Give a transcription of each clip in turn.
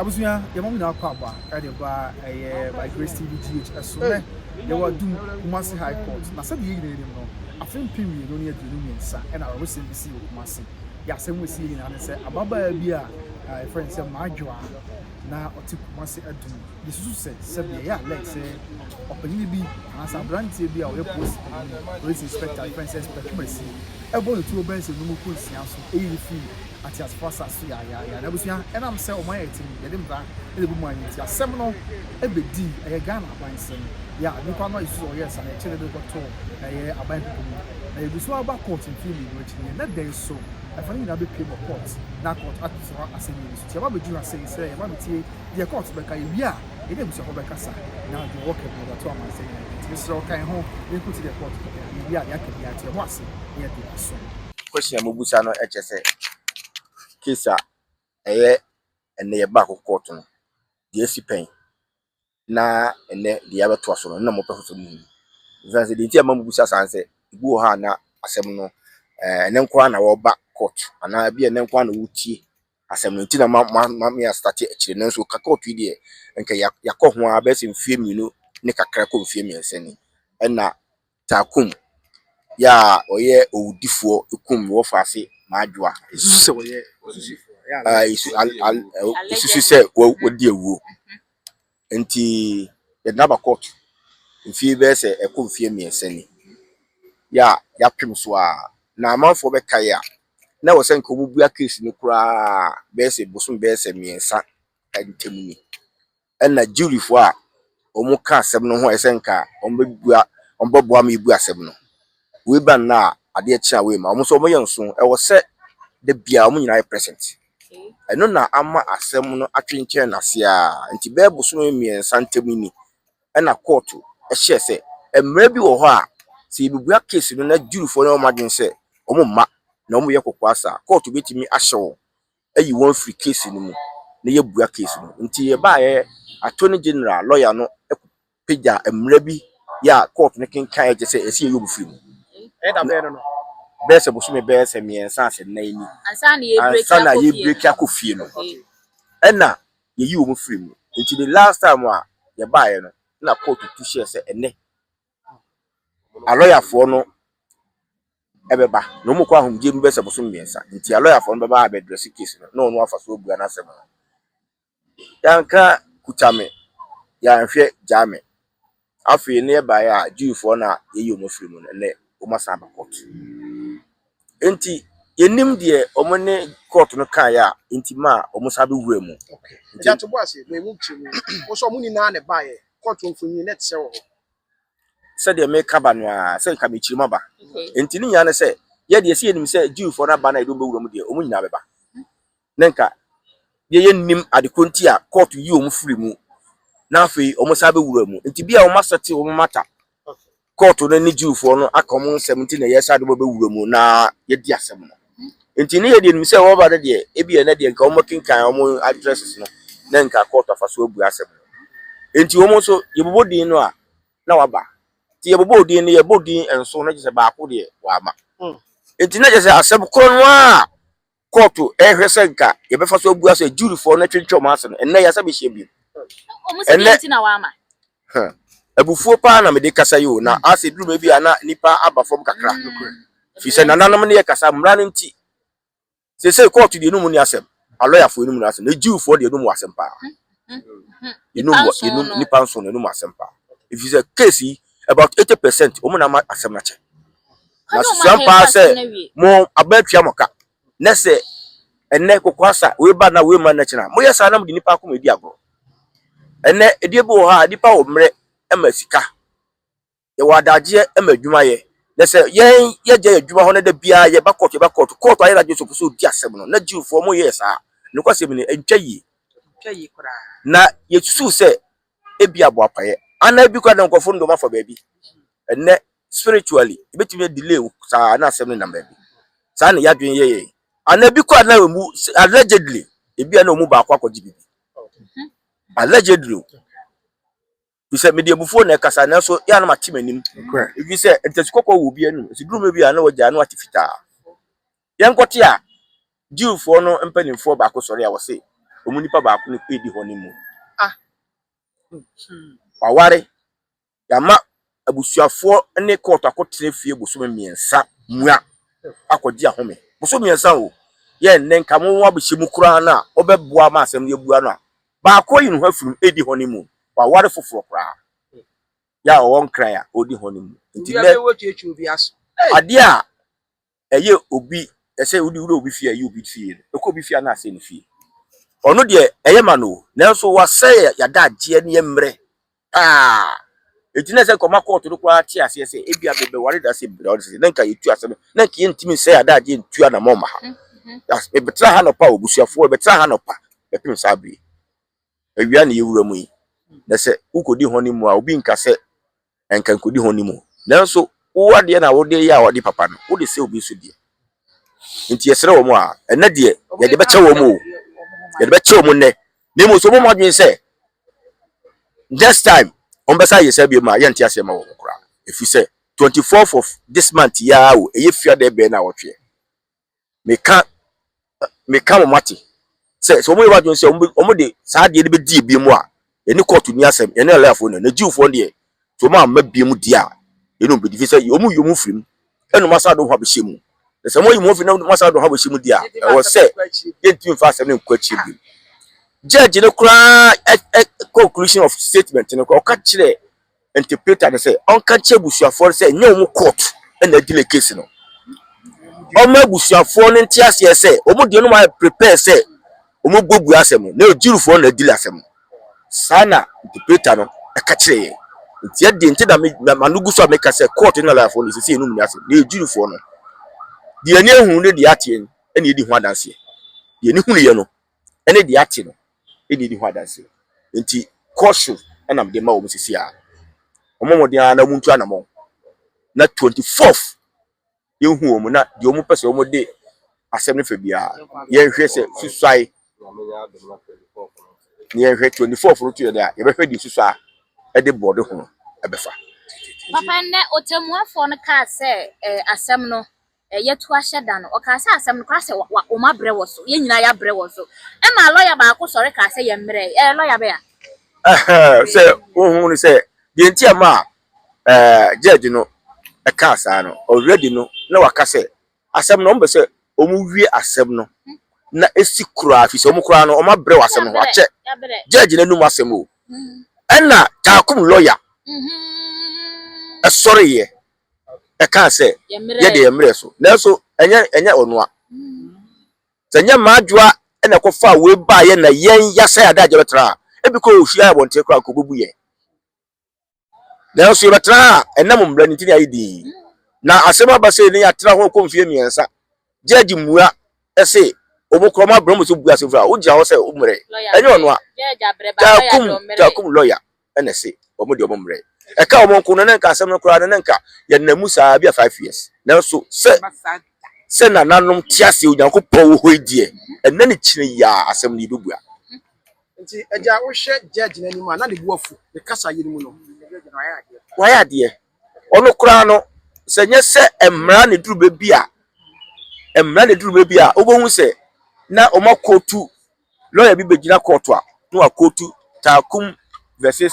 Abusua yɛma mo nyinaa kɔ aba ɛde ba ɛyɛ by Grace TV GH ɛso nɛ yɛwɔ adum Kumasi High Court na sɛdeɛ yɛ nyinaa nim no afe mpem mmienu ne aduonu mmiɛnsa ɛna awerɛhosɛm bi sii wɔ Kumasi yɛ asɛm a ɛsiiɛ nyinaa ne sɛ ababaa bi a yɛfrɛ no sɛ Madwoa na ɔte Kumasi adum yɛsusu sɛ sɛdeɛ yɛ alert sɛ ɔpanyini bi anaasɛ abranteɛ bi a ɔyɛ polisi panyini police inspector yɛfrɛ no sɛ Inspector Twumasi ɛbɔ ne tuo bɛyɛ sɛ nnum mpo nsia so ɛyi no firi ateasefo asase so yaayaaya. Na abusua, ɛnam sɛ wɔn ayɛ atim nti, yɛde mmara na ebu maa yɛn nti, asɛm no bedii. Ɛyɛ Ghana abansɛm. Yɛ a nnipa no ayɛ su sɛ wɔyɛɛ saa no, yɛkyeree no de no kɔtoo ɛyɛ aban kuku mu. Na yɛgu so ara ba kɔɔt mfe mmienu akyi no, yɛn nnɛ da yi so, ɛfa no nyinaa bepuem wɔ kɔɔt na kɔɔt ato so hɔ asɛnnii no so. Nti yɛaba abegye ho asɛm yi sɛ yɛmma no ntie deɛ kɔɔt bɛka, yɛwie a, yɛne abusuafo bɛkasa na deɛ wɔka biara yɛde ato amansan nyinaa anim. Nti mesrɛ wo, ka yɛn ho na yɛnkɔtie deɛ kɔɔt ka biara. Yɛwie a, deɛ aka biara to yɛn ho ase na yɛde asom. Question a mobusa no kyerɛ sɛ case a ɛyɛ ɛnɛ yɛba akɔ court no deɛ asi pɛn na ɛnɛ deɛ abɛtoa so no na mopɛ foforɔ mu hunu ɛsiane sɛ deɛ nti a ma mobusa saa sɛ ebi wɔ hɔ a na asɛm no ɛɛ ɛnɛ nko ara na wɔba court anaa ebi ɛnɛ nko ara na wɔtie asɛm no nti na ma ma ma me astate akyire nanso ka court yi deɛ nka yɛakɔ ho a bɛsɛ mfie mmienu ne kakra kɔ mfie mmiɛnsa ni ɛna Taakum yɛ a ɔyɛ owudifoɔ kum Wɔfaase Maajoa a yɛsu al al yɛsusu sɛ wa wadi awuo. Nti yɛde no aba court mfeɛ bɛyɛ sɛ ɛkɔ mfeɛ mmiɛnsa ni yɛ a yɛapem so a na amanfoɔ bɛkaeɛ a na ɛwɔ sɛ nka wɔbɛbua case no koraa bɛyɛ sɛ bosom bɛyɛ sɛ mmiɛnsa ntam ni. na Jewfo a wɔka asɛm no ho a ɛsɛ sɛ nka wɔbebua wɔbɛboa ma yebu asɛm no. Wei ba nnɛ a adeɛ kye a wei ma wɔn nso wɔyɛ nso. Ɛwɔ sɛ da biara wɔn nyinaa yɛ present. Ɛno na ama asɛm no atwentwɛn no ase ara nti bɛyɛ bosome mmiɛnsa ntam ni na kɔɔto hyɛɛ sɛ mmara bi wɔ hɔ a sɛ yɛbebua case no na Jewfoɔ no yɛ wɔn adwene sɛ wɔmma na wɔyɛ kokoa saa a, kɔɔto bɛtumi ahyɛ wɔn ayi wɔn afiri case no mu na yɛabua case no. Nti yɛbaeɛ, Attorney General lawyer no pagya mmara bi yɛ a court no kenkaeɛ kyerɛ sɛ ɛsɛ yɛyi wɔn firi mu. Ɛyɛ da bɛn no no? Bɛyɛ sɛ bosome bɛyɛ sɛ mmiɛnsa asɛ nnan ni. Ansa na yɛrebreaki akɔ fie no ɛna yɛyi wɔn firi mu. Nti the last time a yɛbaeɛ no na court tu hyɛɛ sɛ ɛnɛ alɔyafoɔ no bɛba, na wɔn kɔ ahomegyeɛ mu bɛyɛ sɛ bosome mmiɛnsa. Nti alɔyafoɔ no bɛba abɛdrɛse case no na ɔno afa so abua n'asɛm no. Yɛanka kuta me, yɛanhwɛ gyaa me. Afei na yɛbaeɛ a Jewfoɔ no a yɛyi wɔn afiri mu no, ɛnnɛ wɔasan aba court. Enti yɛnnim deɛ wɔn ne court no kaeɛ a enti maa wɔn san bɛwuraa mu. Okay. Nti- Ɛdi ato bo ase, mo emu kyerɛ mu. Wɔn nso wɔn nyinaa na ɛbaeɛ. Court mfonyin na ɛte sɛ wɔ hɔ. sɛdeɛ meka ba no ara sɛ nka mekyiri mu aba Okay. nti ne nyinaa ne sɛ yɛdeɛ sɛ yɛnim sɛ jewfoɔ no aba no a yɛde wɔn bɛwura mu deɛ wɔn nyinaa bɛba na nka deɛ yɛnnim ade korɔ nti a kɔɔto yi wɔn firi mu na afei wɔsan bɛwura mu. Nti bia wɔasɛte wɔn mata kɔɔto no ne Jewfoɔ no aka wɔn nsɛm nti na yɛsan de wɔbɛwura mu na yɛadi asɛm no. Nti ne yɛdeɛ nim sɛ wɔba no deɛ ebia ɛnɛ deɛ nka wɔkenkan wɔn addresses no na nka kɔɔto afa so abua asɛm no. Nti wɔn nso yɛbobɔ din no a na wɔaba. Nti yɛbobɔɔ din no, yɛbɔɔ din nson na kyerɛ sɛ baako deɛ wɔamma. Nti na kyerɛ sɛ asɛm korɔ no ara a kɔɔto ɛhwɛ sɛ nka yɛbɛfa so abua sɛ juryfoɔ no atwentwɛn wɔn ase no, ɛnnɛ yɛasa bɛhyia bio. Wɔn sɛ deɛ nti na wɔama. Hɛ, abufuo pa ara na mede kasa yi o, na asɛ ɛduru baabi a na nnipa aba fam kakra. Firi sɛ nananom ne yɛkasa mmara no nti. Seesei kɔɔto deɛ ɛnum nni asɛm, alɔyafoɔ ɛnum nni asɛm, na juryfoɔ deɛ ɛnum wɔ asɛm pa ara. Ɛnum wɔ, ɛnum, nnipa nson no ɛnum wɔ asɛm pa ara. Ɛfiri sɛ case yi, about 80% wɔn na ama asɛm no akyɛ. Na susuam paa sɛ mo aban atua mo ka, na sɛ ɛnnɛ kokoasa wei ba na wei ma nnɛ kyena a, moyɛ saa na mode nnipa akoma di agorɔ. Ɛnnɛ, edie bi wɔ hɔ a, nnipa wɔ mmerɛ ma sika, yɛwɔ adagyeɛ ma adwumayɛ, na sɛ yɛn yɛgya yɛn adwuma hɔ na da biara yɛba kɔɔto yɛba kɔɔto, kɔɔto ayɛ n'adwene sɛ ɔpɛ sɛ ɔdi asɛm no, na Jewfoɔ moyɛɛ saa. Nokwasɛm ni, ɛntwa yie. Na yɛsusuw sɛ ebia boapayɛ anaa ebi koraa de nkurɔfoɔ no de wɔn afa baabi. Ɛnnɛ, spiritually ebetumi a delay wo saa na asɛm no nam baabi saa na yɛadwene yɛ yɛn ana ebi kɔ ana emu allegedly ebi ana ɔmu baako akɔgye bibi mhm. allegedly o bisɛ mede abufuo na ɛkasa nanso yɛ anam ate m'anim ebi sɛ ntɛsi kɔkɔɔ wɔ obi anim nti durum bi a na wɔgya ano ate fitaa yɛn kɔte a jiwfoɔ no mpanimfoɔ baako sɔre a wɔse wɔn nipa baako no edi hɔ ne mu ah hmm. waware. Yɛama abusuafoɔ ne kɔɔto akɔtena fie bosome mmiɛnsa mua akɔgye ahome. Bosome mmiɛnsa o, yɛ nnɛ nka mo abɛhyɛ mu koraa no a, mobɛboa ma asɛm no yɛabua no a, baako ayi ne ho afiri mu redi honeymoon, waware foforɔ koraa. Yɛ a ɔwɔ nkran a ɔredi honeymoon. Nti nnɛ, adeɛ a ɛyɛ obi ɛsɛ wode wura obi fie a ɛyɛ obi fie no ɛkɔ obi fie a na asɛe ne fie ɔno deɛ ɛyɛ ma no nanso wasɛe yɛada agyeɛ ne yɛ mmerɛ paa ɛti na ɛsɛ nkɔma kɔɔto no koraa te aseɛ sɛ ebi a bɛbɛware da sɛ bra ɔde sɛ na nka yɛtu asɛm na nka yɛntumi nsɛe yɛada agyeɛ ntu anamɔ ma ha bɛtena ha nɔpa a ɔbusuafoɔ bɛtena ha nɔpa bɛpem saa bie Awia na yɛwura mu yi, na sɛ wokɔdi hɔ no mu a, obi nka sɛ ɛnka nkɔdi hɔ no mu. Nanso wo adeɛ na wode yɛ a wode papa no, wode sɛ obi nso deɛ. Nti yɛsrɛ wɔn a, ɛnɛ deɛ yɛde bɛkyɛ wɔn o, yɛde bɛkyɛ wɔn nnɛ, na mmom sɛ wɔbɔ adwene sɛ next time wɔbɛsan ayɛ saa biom a, yɛnte aseɛ ma wɔn koraa. Ɛfiri sɛ 24th of this month yi ara o, ɛyɛ fiada bɛn na awɔtweɛ. meka meka wɔn ate sɛ sɛ wɔyɛ wadwene sɛ wɔn de saa adeɛ no bɛdi ebie mu a yɛne kɔɔto ni asɛm yɛne alayafoɔ no na jiwfoɔ deɛ sɛ wɔn amma bie mu di a yɛne wɔn bɛdi fi sɛ wɔn yi wɔn firi mu ɛna wɔn asa de wɔn ho abɛhyɛ mu na sɛ wɔn yi wɔn firi na wɔn asa de wɔn ho abɛhyɛ mu di a ɛwɔ sɛ yɛntumi mfa asɛm no nkɔ akyire bi judge no koraa conclusion of statement no koraa ɔka kyerɛ interpreter no sɛ ɔnka nkyerɛ abusuafoɔ no sɛ ɛnyɛ wɔn court na adi ne case no ɔma abusuafoɔ no nte aseɛ sɛ wɔn deɛ no ma prepare sɛ wɔn bɔ bua asɛm no na ɔgyirifoɔ na adi asɛm no saa na interpreter no ɛka kyerɛ yɛn nti ɛdeɛ nti na ma no gu so a meka sɛ court no alafoɔ no sisi ɛnum ne asɛm na ɔgyirifoɔ no deɛ ɛni ehunu ne deɛ ateɛ ɛna ɛdi ho adanseɛ deɛ ɛni hunu yɛ no ne deɛ ate no na ɛdi ho adanseɛ. Enti kɔ so na mede ma wɔn sisi a. Wɔmmɔ mmɔden ara na wɔntu anammɔn na 24th yɛnhu wɔn na deɛ wɔn pɛ sɛ wɔn de asɛm no fa biara yɛnhwɛ sɛ susuae na yɛnhwɛ 24th no to yɛ dɛ a yɛbɛhwɛ deɛ susua ɛde bɔɔde ho ɛbɛfa. Papa nnɛ ɔtɛmmuafoɔ no kaa sɛ eh, asɛm no Yɛto ahyɛ da no, ɔkaa sɛ asɛm no koraa sɛ wa, wa, wɔabrɛ wɔ so. Yɛn nyinaa yɛabrɛ wɔ so. Ɛmaa lɔya baako sɔre kaa sɛ yɛmmrɛ. Ɛɛ, lɔya bɛn a? Ɛhɛɛ, sɛ wonhu no sɛ, deɛ enti a ɛmaa ɛɛ, gyɛɛgye no kaa saa no, already no, na waka sɛ, asɛm no, wɔpɛ sɛ wɔwie asɛm no na ɛsi koraa, firi sɛ wɔn koraa no, wɔabrɛ wɔ asɛm no ho. Akyɛ, gyɛɛgye no anum asɛm o. Ɛnna Taakum lɔya sɔreeɛ ɛkaa sɛ, Yɛ deɛ mmerɛ so. Nanso ɛnyɛ ɛnyɛ ɔnoa. Sɛ ɛnyɛ mmadwoa na ɛkɔfaa wei baeɛ na yɛn yɛasɛe adagyeɛ bɛtra a, ebi kɔ ɔhyia abɔnten koraa nka ɔbɛbu yɛn. Nanso yɛbɛtra ha a, ɛnam mmara no nti na yɛayɛ din yi. Na asɛm aba sei na yɛatra ho ɛkɔ mfeɛ mmiɛnsa. Judge mmua se, wɔn koraa wɔabrɛ wɔn sɛ wɔbɛbua asɛm firi ha. Wogyina hɔ sɛ wommrɛ. Ɛnyɛ ɔnoa. Taakum, Taakum lɔya. ɛna ɛse wɔn deɛ wɔn mmerɛ. Ɛka wɔn nko no na nka asɛm no koraa no na nka yɛnam mu saa bi a five years. Nanso sɛ sɛ nananom te aseɛ Onyankopɔn wɔ hɔ yi deɛ ɛnɛ ne kyena yi ara asɛm no yɛbɛbua. Nti agya wohwɛ judge no anim a na ne bo afu ne kasa yɛ no mu no. Wayɛ adeɛ. Ɔno koraa no sɛ nyɛ sɛ mmara na ɛduru baabi a mmara na ɛduru baabi a wobɛhu sɛ na wɔakɔtu Lɔya bi begyina kɔɔto a na wakootu Takum vs.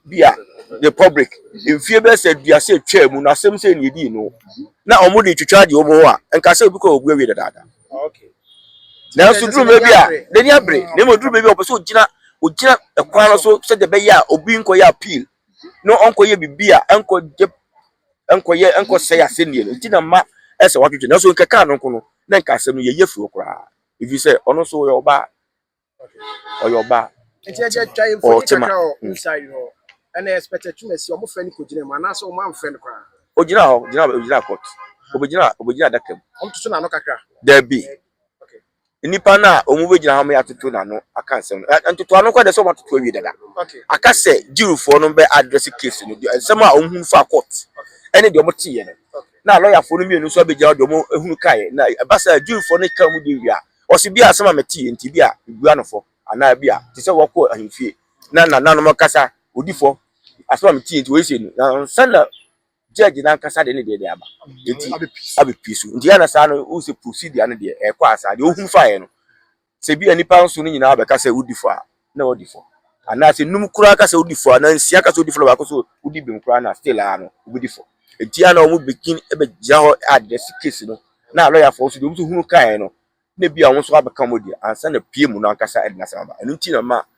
Bia Republic mfie bɛyɛ sɛ aduasa a etwaa mu no asɛm sei na edii no na wɔde retwitwa adeɛ wɔ mu hɔ a nka sɛ obi kɔ a obu awie dadaada. Nanso duru baabi a n'ani abere na mmom duru baabi a ɔpɛ sɛ ogyina ogyina kwan no so sɛdeɛ ɛbɛyɛ a obi nkɔyɛ appeal na ɔnkɔyɛ biribi a ɛnkɔgye ɛnkɔyɛ ɛnkɔsɛe asɛnnii no nti na mma ɛsɛ wɔatwitwa nanso nka kaa no nko no na nka asɛm no yɛyi afiri hɔ koraa. Efisɛ ɔno nso ɔyɛ ɔbaa. Ɔyɛ ɔbaa. Nti ɛkyɛ twa yɛn mfoni kakra wɔ inside hɔ. Ɛna yɛ expect atwumasi wɔn fɛ no kɔgyina mu anaasɛ wɔn amfɛ no koraa. Ogyina hɔ gyina ogyina court. Obegyina obegyina adaka mu. Wɔn tutu n'ano kakra. Dabi. Okay. Nnipa no a wɔn bɛgyina hɔ ma yɛatoto n'ano aka nsɛm no ntoto ano kɔ de sɛ wɔn atoto awie dada. Okay. Aka sɛ jirifoɔ no bɛ address case no deɛ nsɛm a wɔn hu fa court ɛne deɛ wɔn te yɛ no. Okay. na lɔyafoɔ no mmienu nso abɛgyina hɔ de wɔn ahunu kaeɛ, na ɛba saa a, Jewfoɔ no twa wɔn din wie a, ɔse, Bi a asɛm a metee nti, bi a mebua no fɔ, anaa bi a, te sɛ wɔkɔɔ ahemfie, na nananom kasa, wɔdi fɔ, asɛm a metee nti wɔyɛ sei no, na ansa na judge no ankasa de ne deɛ de aba, nti abɛpue so, nti ɛyɛ a na saa no, wohu sɛ procedure no deɛ ɛrekɔ asaa, deɛ ɔhunu faeɛ no. Sɛ ebia nnipa nson no nyinaa bɛka sɛ wodi fɔ a, na wɔadi fɔ. Anaasɛ nnum koraa ka sɛ wodi fɔ, anaa nsia ka sɛ wodi fɔ na baako nso odi bem koraa no a, still ara no, wobedi fɔ. Enti a na wɔbegyin begyina hɔ address case no, na alɔyafo nso deɛ wɔn nso hunu kae no, na ebia wɔn nso abɛka wɔn deɛ ansa na pie mu no ankasa de n'asɛm aba. Ɛno nti na ɛma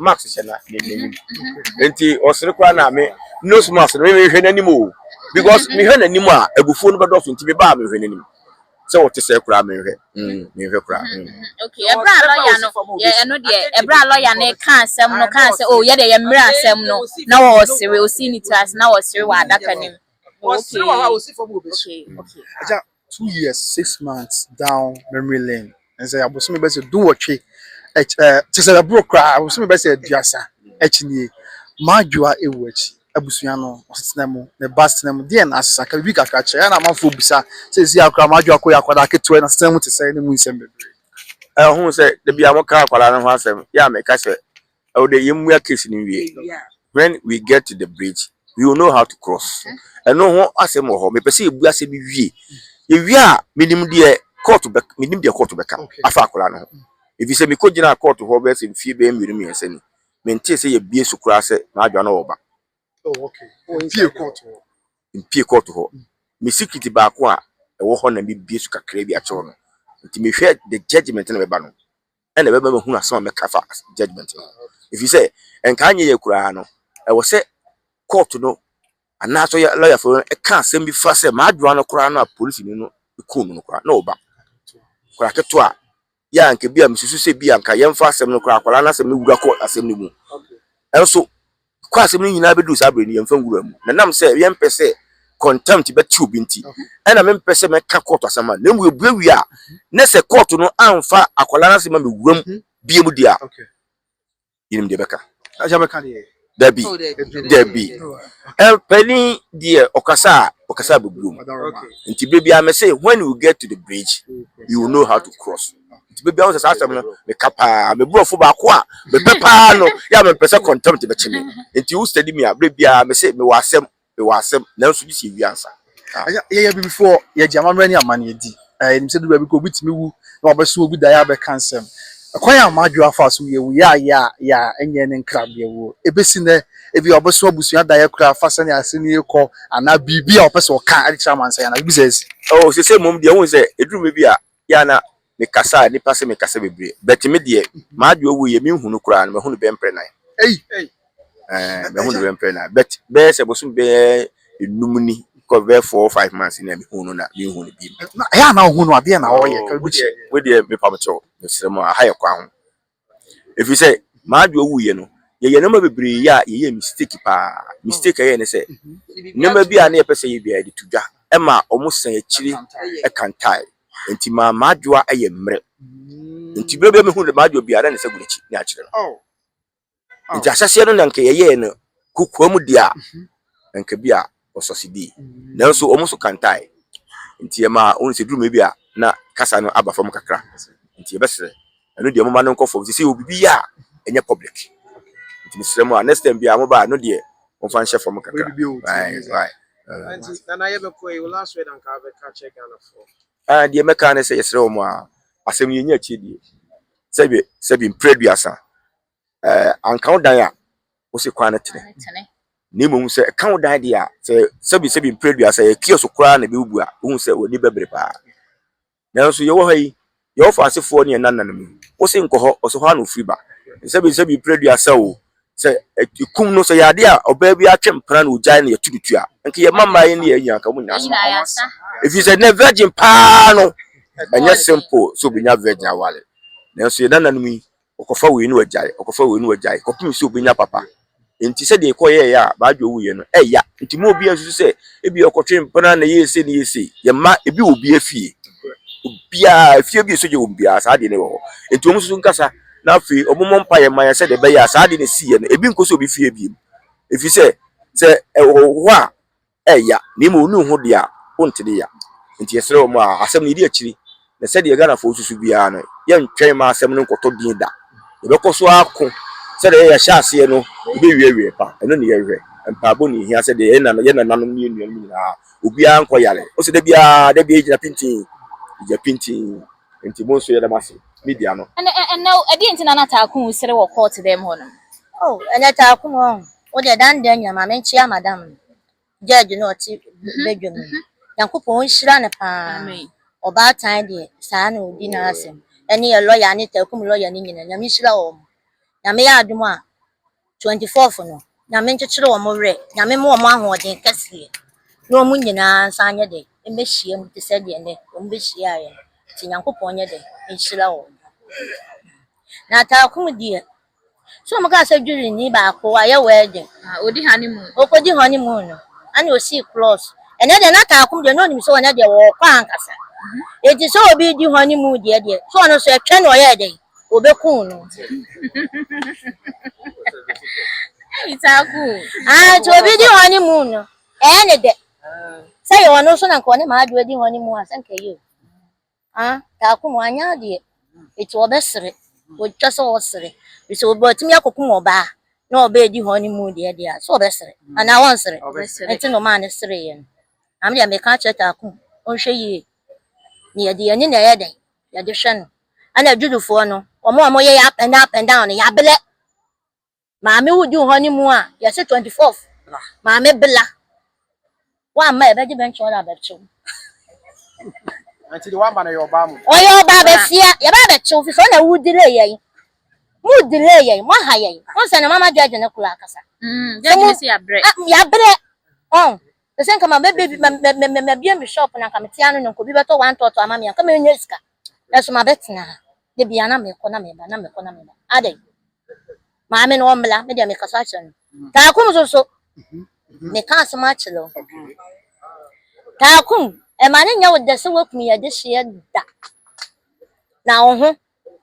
Max hyɛ na n'anim nti ɔsere koraa na me nose mask no mehwɛ n'anim o because mehwɛ n'anim a abufuo no bɛdɔso nti mebaa mehwɛ n'anim sɛ ɔte sɛ koraa mehwɛ mm, mehwɛ koraa mm. okay ɛberɛ a lɔya no yɛ ɛno deɛ ɛberɛ a lɔya no ka asɛm no ka sɛ o oh, yɛdeɛ yɛ mmerɛ asɛm no na ɔsere ɔsii ne tiri ase na ɔsere wɔ adaka no mu okay okay okay two years six months down memory lane ɛnsɛ abosome bɛsɛ duwɔtwe ɛkyi ɛɛ kyesɛ ɛboro koraa abosome bɛsɛ aduasa ɛkyi nie madwoa ewu ɛkyi abusua no ɔsetena mu ne ba setena mu deɛ na asesa ka bibi kakra kyerɛ ɛna amanfoɔ bisa sɛsi akora madwoa akɔyɛ akwadaa ketewa ɛna setena mu tesɛ ɛna mu nsɛm bebree. Ɛho sɛ dabi a mo ka akwadaa no ho asɛm yɛ a meka sɛ Ɛwɔ dɛ yɛmua case no nwie. When we get to the bridge, we will know how to cross. Ɛno ho asɛm wɔ hɔ. Mepɛ sɛ yɛbua asɛm no wie. Yɛwie a, menim deɛ kɔɔto bɛ, menim deɛ kɔɔto bɛka afa akwadaa no ho. Efisɛ mekɔgyinaa kɔɔto hɔ bɛyɛ sɛ mfeɛ bɛyɛ mmienu mmiɛnsa ni. Mentee sɛ yɛabue so koraa sɛ m'adwoa no ɔreba. Oh, okay. Oh, mpue kɔɔto hɔ. Mpue kɔɔto hɔ. Me secret baako a ɛwɔ hɔ na mebue so kakraa bi akyerɛ wo no. Nti mehwɛ the judgment na ɛbɛba no. ɛna ɛbɛma mahunu asɛm a mɛka fa judgement no ho ɛfiri sɛ ɛnkaa nyɛ yɛ koraa no ɛwɔ sɛ court no anaasɛ yɛ lɔyafoɔ no ɛka asɛm bi fa sɛ m'adwoa no koraa no a polisini no kuu no no koraa na ɔba koraa keto a yɛ a nka bi a mesusu sɛ bi a nka yɛmfa asɛm no koraa akwadaa no asɛm no wura kɔ asɛm no mu ɛnso Kɔ asɛm no nyinaa bɛduru saa berɛ no, yɛmfa nwura mu. Na nam sɛ yɛmpɛ sɛ contempt bɛte obi nti, ɛna mempɛ sɛ mɛka kɔɔto asɛm ma no. Na mmom yɛbue wie a, na sɛ kɔɔto no amfa akwadaa no asɛm ammɛwura mu biom deɛ a, yɛnim deɛ ɛbɛka. Dabi, dabi. Panin deɛ ɔkasa a, ɔkasa abɛbuom. Nti berɛ biara mese, when you get to the bridge, you will know how to cross. nti baabi ahụ sɛ saa asɛm no meka paa me borɔfo baako a mepɛ paa no yɛ a mempɛ sɛ contempt bɛkye me nti wo study me a berɛ biara me se mewɔ asɛm mewɔ asɛm nanso bi si ewie ansa yɛyɛ abibifoɔ yɛgye amammerɛ ne amanneɛ di ɛnim sɛ duba bi kɔ obi tumi wu na wabɛso obi daeɛ abɛka nsɛm ɛkwan a madwo afa so yɛ wu yɛ a yɛ a yɛ a ɛnyɛ ne nkrabea wuo ɛbɛsi nɛ ebi a ɔbɛso abusua daeɛ koraa fa sɛnea ase ne rekɔ anaa biribi a ɔpɛ sɛ ɔka de kyerɛ amansan anaa biribi sɛ asi ɛwɔ sɛ sɛ mmom deɛ wohu sɛ ɛduru me bi a Bi a na me kasa a nipa se me kasa bebree but me deɛ m'adeɛ owu yɛ me hu no koraa no mahu no bɛyɛ mprɛ nan eii mahu no bɛyɛ mprɛ nan but bɛyɛ sɛ bosom bɛyɛ enum ni kɔ bɛyɛ four five months ni a me hu no na me hu no bio. Ɛyɛ a na wo hu no adeɛ na ɔyɛ ka bi kyerɛ. Wo deɛ me pamkyɛw me srɛ mo aha yɛ kwan ho Ɛfiri sɛ, m'adoa wuiɛ no, yɛyɛɛ nneɛma bebree yɛ a, yɛyɛɛ mistake paa. Mistake a yɛyɛɛ ne sɛ, nneɛma bi a na yɛpɛ sɛ yɛyɛ biara, yɛde to dwa. Ɛma wɔsan akyiri kantaeɛ. Enti maa m'adoa yɛɛ mmerɛ. Enti berɛ biara a mɛhunu m'adoa biara, na ne nsa gu n'akyi na akyerɛ no. Enti ahyɛaseɛ no na anka yɛyɛɛ no kokoam deɛ a, anka bi a wɔsɔse dii, nanso wɔn nso kantae. Nti ɛmaa wohu sɛ duruma bi a na kasa no aba fam kakra. Nti yɛbɛsrɛ ɛno deɛ momma no nkɔ fam sisi yɛ obibi a ɛnyɛ public. Nti mesrɛ mo a next time biara moba a ɛno deɛ momfa nhyɛ fam kakra. Ah deɛ mɛka ne sɛ yɛsrɛ wɔn a asɛm no yɛnya akyire deɛ sɛbe sɛbe mprɛ aduasa. ɛɛ anka wo dan a, wose kwan no tene. Na mmom sɛ ɛka wo dan deɛ a, sɛ sɛbisɛbi mpere dua sɛ ɛyɛ kiosk koraa na ɛbɛbubu a, wohu sɛ w'ani bɛbere paa. Nanso yɛwɔ ha yi, Yehofa asefoɔ ne yɛn nananom yi, wose nkɔ hɔ, ɔsɛ hɔ ara na wɔfiri ba. Sɛbisɛbi mpere dua sɛ o, sɛ ɛkum no, sɛ ɛyɛ adeɛ a ɔbaa bi atwe mpena na ɔgyae na yɛto no tu a, nka yɛn mmammaa yi ne yɛn nyinaa nka wɔnya asɛm. Ɛfiri sɛ nnɛ virgin paa no, ɛnyɛ simple sɛ ɔbɛnya virgin aware. Nanso yɛn nananom yi, Ɔkɔfa wei na wagyae, ɔkɔfa wei na wagyae kɔpem sɛ ɔbɛnya papa. Nti sɛdeɛ ɛkɔyɛeɛ a Badwo wuiɛ no, ɛya. Nti mma obiara nsusu sɛ ebia ɔkɔtwee mpena na ɛyɛɛ sei na ɛyɛɛ sei. Yɛn mma, ebi wɔ obiara fie. Obiara, efie bi a sogya wom biara, saa adeɛ no wɔ hɔ. Nti wɔn nsusu nkasa na afei wɔmmɔ mpaeɛ mma yɛn sɛdeɛ ɛbɛyɛ a saa adeɛ no a ɛsiiɛ no, ebi nkɔ sɛ obi fie bio. Ɛfiri sɛ, sɛ ɛwɔ hɔ a, ɛɛya na mmom wone ho deɛ a wonte de ya nti yɛsrɛ wo ma asɛm no yɛdi akyiri na sɛdeɛ Ghanafoɔ susu biara no yɛntwɛn mma asɛm no nkɔtɔ din da yɛbɛkɔ so ara ko sɛdeɛ ɛyɛ a yɛahyɛ aseɛ no yɛbɛwie awieɛ pa ɛno ne yɛhwɛ mpaebɔ na ɛhia sɛdeɛ yɛn nana yɛn nananom ne yɛn nuanom nyinaa obiara nkɔ yare wohu sɛ da biara da biara yɛgyina pintinn yɛgyina pintinn nti mo nso yɛda mo ase media no. Ɛnɛ ɛnɛ ɛdeɛn nti na na Taakun sere wɔ kɔɔto dɛm hɔ nom? Oh ɛnɛ Taakun ɔɔn Wo deɛ dan dan nyina ma menkyea madam no George no ɔte badwam no Nyankopɔn nhyira no paa Ɔbaatan deɛ saa na ɔdi n'asɛm ɛne yɛ lɔya Anita akum lɔya no nyina Nyame nhyira wɔn Nyame yɛ adom a 24 fo no Nyame nkyekyere wɔn werɛ Nyame ma wɔn ahoɔden kɛseɛ na wɔn nyinaa nsa nyɛ dɛ mmɛhyia mu te sɛ deɛ nnɛ wɔn bɛhyiaeɛ no nti Nyankopɔn nyɛ dɛ nhyira wɔn Nata akum deɛ So ɔmo kaa sɛ dwirinyi baako wayɛ wɛɛdin. Ah odi honeymoon. Okodi honeymoon no ɛna osii klɔs. Ɛnɛ deɛ na Taakum deɛ na onim sɛ ɔnɛ deɛ ɔɔkɔ ankasa. Enti sɛ obi redi honeymoon deɛ deɛ sɛ ɔno nso ɛtwɛ na ɔyɛɛ dɛn? Obekum no. Ei Taakum. Ah nti obi di honeymoon no ɛyɛ ne dɛ. Sɛ ɛyɛ ɔno nso na nka ɔne Maadwo adi honeymoon a sɛ nka ɛyɛ o. Ah Takum wanyɛ adeɛ nti wɔbɛsere wɔtwa sɛ wɔsere firi sɛ obi watumi akɔkum ɔbaa na ɔbɛɛdi honey moon deɛ deɛ a sɛ ɔbɛsere anaa ɔnsere ɛnti na ɔmaa no sereeɛ no na me deɛ meka akyerɛ Takum ɔnhwɛ yie na yɛde yɛn ani na ɛyɛ dɛn yɛde hwɛ no ɛna Judufoɔ no wɔn a wɔyɛ up and up and down no yɛabrɛ. Maame wo du hɔ ne mu a yɛse twenty fourth maame bla wamma ɛbɛgye bɛn kyɛw na bɛkyew ɔyɛ ɔbaa bɛsia yɛbaa bɛkyew fisɛ ɔna wo delay yɛn mo delay yɛn mo aha yɛn wɔn sɛ ne mama judge ne koro akasa yabrɛ ɔn sɛ nka ma bɛbɛ ma bie me shop na nka me tia no no nka obi bɛtɔ one tɔtɔ ama me anka menya sika ɛso ma bɛtena ha de bia na mekɔ na meba na mekɔ na meba adɛn Maame no ɔmmra, me deɛ mekasa akyerɛ no. Taakum so so, meka asɛm akyerɛ wo. Taakum, ɛma no nyɛ wo dɛ sɛ woakunu yɛ adehyeɛ da. Na wo ho,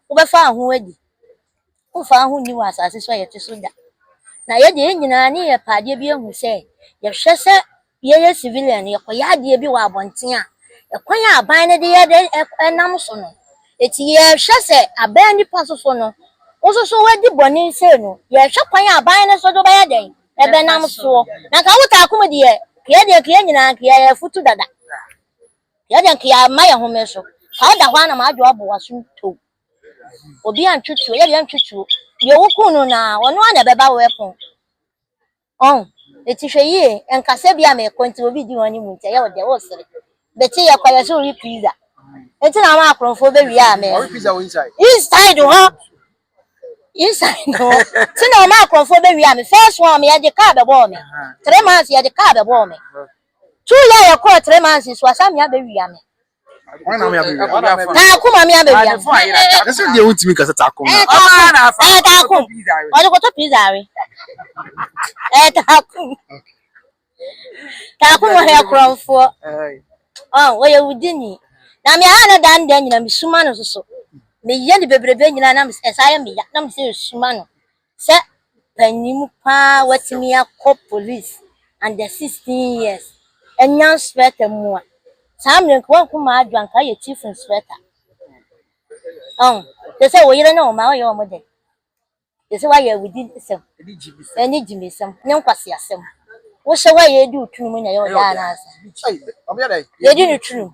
wobɛfa wo ho adi. Womfa wo ho nni wɔ asase so a yɛte so da. Na yɛ deɛ yɛn nyinaa ne yɛpɛ adeɛ bi ahu sɛ yɛhwɛ sɛ Yɛyɛ civilian no, yɛkɔyɛ adeɛ bi wɔ abɔnten a, ɛkwan a aban no de yɛ de nam so no, enti yɛhwɛ sɛ abɛn nipa nso so no, wo nso so wadi bɔne sei no, yɛhwɛ kwan a aban no nso de wobɛyɛ dɛn? Ɛbɛnam soɔ. Na nka wo taako mu deɛ, nka yɛn deɛ nka yɛn nyinaa nka yɛyɛ afutu dada. Yɛn deɛ nka yɛama yɛn ho mmere so. Ka woda hɔ ara na madwo abɔ w'aso tow. Obi antwetwuo, yɛn deɛ yɛntwetwuo. Deɛ wokuu no no ara, ɔno ara na ɛbɛba wo ɛpono. Ɔn, eti hwɛ yie, ɛnka sɛ ebia merekɔ nti obi di hɔn mu nti ɛyɛ wo dɛ woresere. Bɛkye yɛkɔ yɛ so we pizza nti na ama akorɔmfoɔ bɛwie a me. Ɔwe pizza wɔ inside. Inside hɔ inside hɔ nti na ama akorɔmfoɔ bɛwie a me first one me yɛde car bɛbɔɔ me three months yɛde car bɛbɔɔ me two year yɛkɔɔ three months nso asan me abɛwie a me. taako maame abɛwia ɛsɛ deɛ wontumi kasa taako ɛyɛ taako ɛyɛ taako ɔde kɔtɔ pizza we ɛyɛ taako taako wɔ hɛ korɔmfoɔ ɔyɛ wudi ni na me aha ne dan dan nyina mesuma no soso meyɛ ne bebrebe nyina na ɛsa yɛ meya na mesɛ ɛsuma no Sɛ panyin pa ara watumi akɔ police under sixteen years anya nspector mu a, saa mmerɛ yi nka wanku Madu a nka wayɛ chief inspector. Ɔho, te sɛ wo yere ne wo mma woyɛ wɔn dɛn? Te sɛ woayɛ awudisɛm ne gyimesɛm ne nkwaseasɛm. Wohyɛ hɔ a yɛredi wo tunu mu na ɛyɛ wo dɛ anaasɛ? Yɛdi no tunu mu.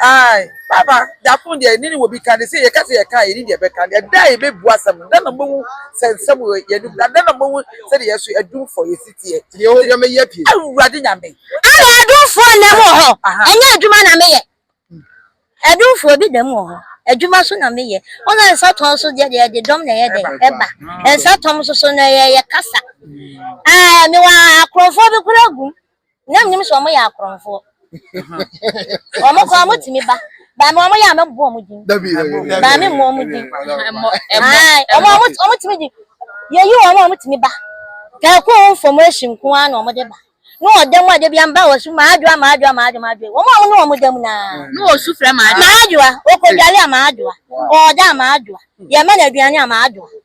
Ae, papa, da koro deɛ yɛne no wɔ bi ka ne sɛ yɛka sɛ yɛka a yɛne deɛ ɛbɛka no ɛda a yɛbɛbu asɛm no da na mobɛhu sɛ nsɛm wɔ yɛn anim na da na mobɛhu sɛdeɛ yɛn so adum fɔ yɛn siteɛ Awurade Nyame. Ae, adumfoɔ nna mu wɔ hɔ, ɛnyɛ adwuma na meyɛ, adumfoɔ bi da mu wɔ hɔ, adwuma nso na meyɛ, wo na nsa tɔn so deɛ deɛ yɛde dɔm na ɛyɛ dɛn ɛba, nsa tɔm nso so na ɛyɛ yɛkasa, ae, mewɔ akorɔmfoɔ bi koraa gu mu. na menim sɛ wɔyɛ akorɔmfoɔ. Wɔn koraa wɔtumi ba. Baa me wɔn yɛ a mɛbobɔ wɔn din. Baa me mmɔ wɔn din. Wɔtumi di. Yɛyi wɔn a wɔtumi ba. Kɛɛko ho information nko ara na wɔde ba. Ne ɔda mu a da bi amba wɔ so maadwoa maadwoa maadwoa maadwoa. Wɔn a wɔne wɔn da mu no ara. Ne wɔsu frɛ maadwoa. Maadwoa. Ɔkɔdware a maadwoa. Ɔɔda a maadwoa. Yɛma no aduane a maadwoa.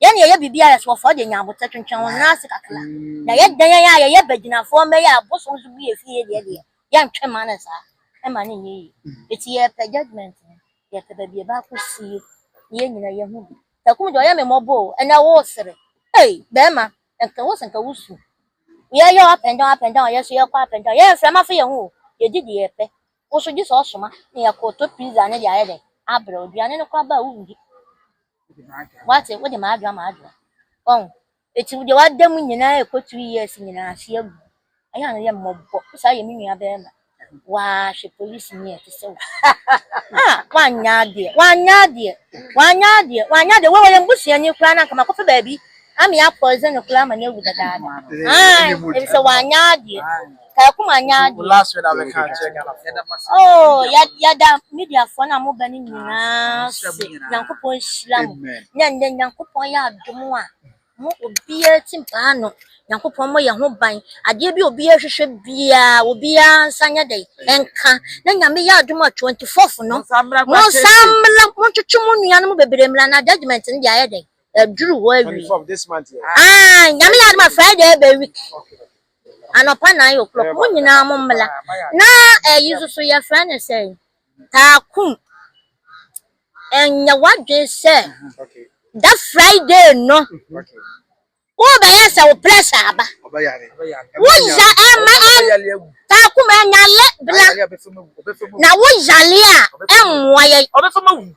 Yɛn yɛyɛ biribi a yɛsoɔfoɔ deɛ nyaa aboterɛ twentwɛn wo nan ase kakra na yɛ dɛn yɛn a yɛyɛ bagyinafoɔ mma yi a abosom nso bu yɛ fie yɛ deɛ deɛ yɛ ntwe mma no saa ɛmma no nyɛ yie ɛti yɛ pɛ judgement no yɛ pɛ baabi ɛbɛ akɔ sie na yɛn nyina yɛ hu bi Takum deɛ ɔyɛ me mmɔbɔ oo ɛnɛ wo sere ei bɛɛma nka wo se nka wo su yɛ yɛ up and down up and down yɛ so yɛ kɔ up and down yɛ mfrɛ ma fa yɛ ho oo yɛ di deɛ yɛ pɛ Wo nso gye sɛ ɔsoma na yɛkɔɔtɔ pizza no de ayɛ dɛn? Abrɛ wo. Aduane no koraa ba a wonndi. Woate? Wode m'adwoa m'adwoa. Wahu? Enti wo deɛ w'ada mu nyinaa ɛkɔ three years nyinaa ase agu no, ɛyɛ a no yɛ mmɔbɔ. Wo saa yɛ me nua bɛɛma. Waa hwɛ polisini a ɛte sɛ wo. Ah! Wanyɛ adeɛ. Wanyɛ adeɛ. Wanyɛ adeɛ. Wanyɛ adeɛ. Wei ɔyɛ m'busuani koraa na anka makɔfa baabi Ame apɔw dze no koraa ma no ewu dadaada aahh ebisɛ ɔannyɛ adeɛ Kaekum annyɛ adeɛ ooh yɛda mediafoɔ no a moba no nyinaa ase Nyankopɔn nhyira mo na ndɛ Nyankopɔn ayɛ adom a mo obiara tsi mpaa ano Nyankopɔn mmɔ yɛn ho ban adeɛ bi a obiara hwehwɛ biara obiara nsa nyɛ dɛn nka na Nyame yɛ adom a twenty fourth no monsan mmra montwetwe mo nuanom bebree mmra na judgement no deɛ ayɛ dɛn Ɛduru hɔ awie. Twenty four of this month yɛ. Ah, nyame yɛ adama Friday ɛbɛ week. Anɔpa nine o'clock. Mo nyinaa mo mmla. Na ɛyi nso so yɛ fɛ ne sɛ taakum. Ɛnyɛ wadwen sɛ da Friday no. Wo bɛyɛ sɛ wo pressure aba. Wo ya ɛma ɛn taakum ɛnya lɛ bla. Na wo yale a ɛmmoa yɛ. Ɔbɛfa ma wu.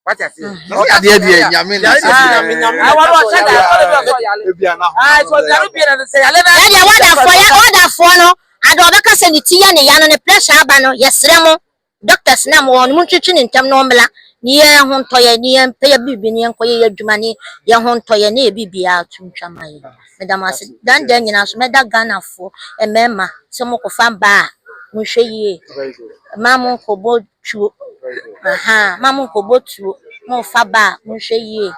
wati ase. ɔkadi ɛdi yɛ nyame na sɛ nyame nyame na ɛwɔ ɔsɛ da ɛfɔ de bi ɔsɛ ɔyale ebi ana ho ɛsɛ ɔyale bi ɛna sɛ yale na ɛdi yɛ wadafɔ yɛ wadafɔ no adi ɔbɛka sɛ ne ti yɛ ne ya no ne pressure aba no yɛsrɛ mo doctors na mo wɔn mo ntwitwi ne ntɛm na ɔmela ne yɛ ho ntɔ yɛ ne yɛ mpɛ yɛ biribi ne yɛ nkɔ yɛ yɛ adwuma ne yɛ ho ntɔ yɛ ne yɛ biribi yɛ ato ntwa ma yɛ meda mo ase dan dan nyinaa so mɛda Ghana foɔ mmarima sɛ mo kɔfa mbaa mo nhwɛ yie mmaa mo nkɔ bɔ tuo ahaa ma mo nkɔ bɔ tuo mo nfa ba a mo nhwɛ yie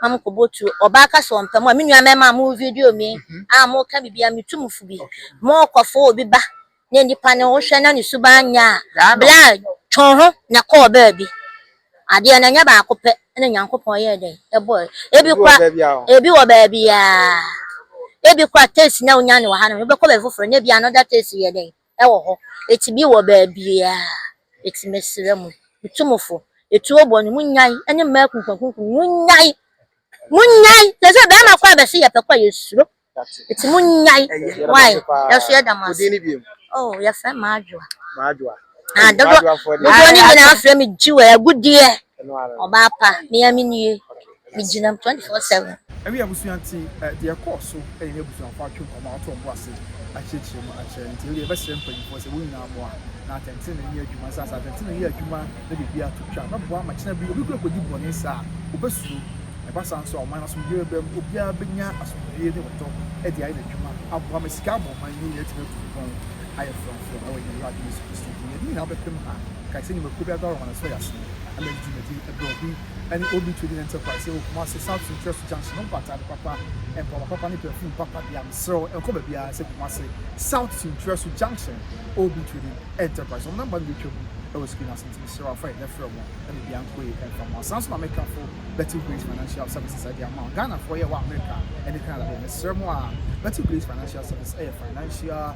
ma mo nkɔ bɔ tuo ɔbaa ka sɛ ɔmpɛ mo a me nua mɛma mo video mi a mo ka bibi a me tu mo fo bi mo kɔ fo obi ba na nipa ne wo hwɛ na ne su ba nya a bla twɔn ho na kɔ ɔbaa bi adeɛ na nyɛ baako pɛ na nyankopɔn yɛ dɛ ɛbɔ ebi kwa ebi wɔ baabi a ebi kwa tesi na onya ne wɔ ha no bɛkɔ bɛ foforɔ na ebi another tesi yɛ dɛ ɛwɔ hɔ ɛti bi wɔ bɛɛbia ɛti mɛsrɛ mu tumufo ɛtuo bɔ no mu nyan ɛne mmaa kunkunkunku mu nyan mu nyan tɛ sɛ bɛɛma kɔ a bɛsi yɛ pɛkɔ yɛ suro ɛti mu nyan wae ɛso yɛ dama oh yɛ fɛ maa adwoa maa adwoa ah dodo dodo ne nyinaa frɛ me jiwa ɛgu deɛ ɔbaa pa mea me nie Megyina mu 24/7. Ɛne abusua nti deɛ ɛkɔɔ so yɛ ne abusuafoɔ atwe nkɔmmɔ ato wɔn bo ase akyerɛkyerɛ mu akyerɛ nti wodeɛ yɛbɛsrɛ mpanyinfoɔ sɛ wɔn nyinaa mmoa na atɛntene nyɛ adwuma sɛ asɛ atɛntene yɛ adwuma na biribiara to twa bɛboa ama kyena bi obi kura kɔdi bɔne saa a obɛsuro ɛba saa nso a ɔman no asomdwie bɛba mu obiara bɛnya asomdwie ne ɔdɔ de ayɛ n'adwuma aboa ma sika abɔ ɔman no nyinaa atumi atu mpɔn ayɛ frɔmfrɔm ɛwɔ yɛn Awurade Yesu Kristo din yɛn nyinaa bɛpem ha kae sɛ nnwumakuo biara biara wɔ wɔn asɔre ase na ɛma ɛdi dwumadi ɛberɛ ɔde ne Old New Trading Enterprise ɛwɔ Kumasi South Interest Junction nkɔ ataade papa, mpaboa papa ne perfume papa dea mesrɛ wo nkɔ baabiara sɛ Kumasi South Interest Junction Old New Trading Enterprise wɔn number no bɛtwa mu ɛwɔ screen ase nti mesrɛ wo afa yi na frɛ wɔn ɛna bia nkoe ɛmfa mmoa saa nso na Americanfoɔ Betty Grace Financial Services ɛde ama wo Ghanafoɔ yɛ wɔ America ɛne Canada deɛ mesrɛ mo a Betty Grace Financial Services ɛyɛ financial